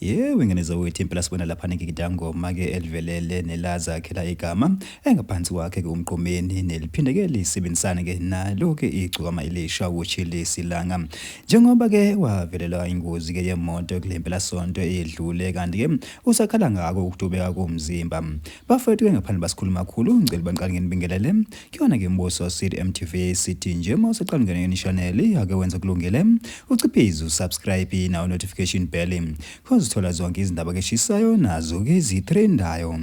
Yewe ngane zawethu impela sibona lapha ngigidangoma ke elivelele nelaza khela igama engaphansi kwakhe ke umqomeni neliphindeke lisebenzisane ke nalo ke igcokama elisha wochili silanga njengoba ke wavelelwa ingozi ke yemoto kulempela sonto edlule kanti ke usakhala ngako ukutubeka komzimba bafethu ke ngaphandle basikhuluma kakhulu ngicela baniqale nginibingelele Kuyona ke mbuso City MTV sithi nje uma usaqalungene yona channel ake wenza kulungile uciphize usubscribe nawo notification bell cause uthola zonke izindaba ke shisayo nazo ke zitrendayo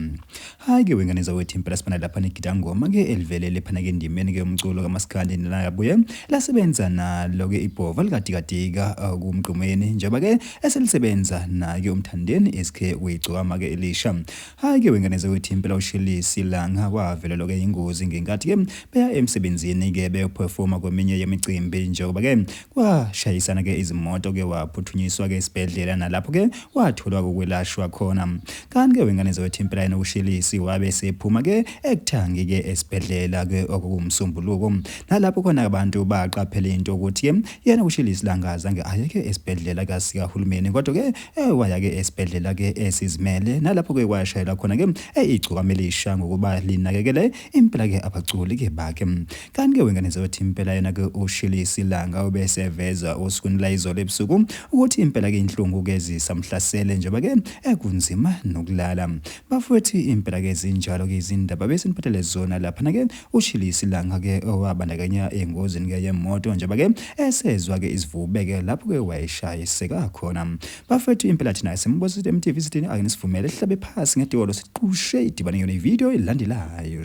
hayi ke wengane zawethu impela sibana lapha negida ngoma ke elivelele phana ke ndimeni ke umculo kamaskandi nelabuye lasebenza nalo ke ibhova likadikadika uh, kumgqumeni njengoba ke eselisebenza naye umthandeni SK uyigcwama ke elisha Hayi ke wengane zakwethu impela uShelisi Langa wavelelwa ke ingozi ngenkathi ke beya emsebenzini ke beyophefoma kweminye yemicimbi njengoba ke kwashayisana ke izimoto ke waphuthunyiswa ke esibhedlela nalapho ke watholwa kokwelashwa khona kanti ke wengane zakwethu impela yena uShelisi wabe sephuma ke ekuthangi ke esibhedlela ke okuwumsombuluko nalapho khona abantu baqaphela into ukuthi ke yena uShelisi Langa zange ayeke esibhedlela kasika hulumeni kodwa ke Eh waya-ke esibhedlela-ke esizimele nalapho-ke washayela khona-ke eh, igcokama elisha ngokuba linakekele impela-ke abaculi-ke bakhe. Kanti-ke wengane zothi impela yena-ke uShilisi Langa ubeseveza osukwini layizolo ebusuku ukuthi impela-ke inhlungu-ke zisamhlasele njengoba-ke ekunzima eh, nokulala. Bafowethu impela-ke zinjalo-ke izindaba besiniphathele zona laphana-ke Ushile isilanga ke owabandakanya engozini ke yemoto njengoba ke esezwa ke izivube ke lapho ke wayeshayiseka khona. Bafethu impela thina simbuza ukuthi MTV sithini akenisivumele sihlabe phasi ngedolo siqushe idibane yona ivideo elandelayo.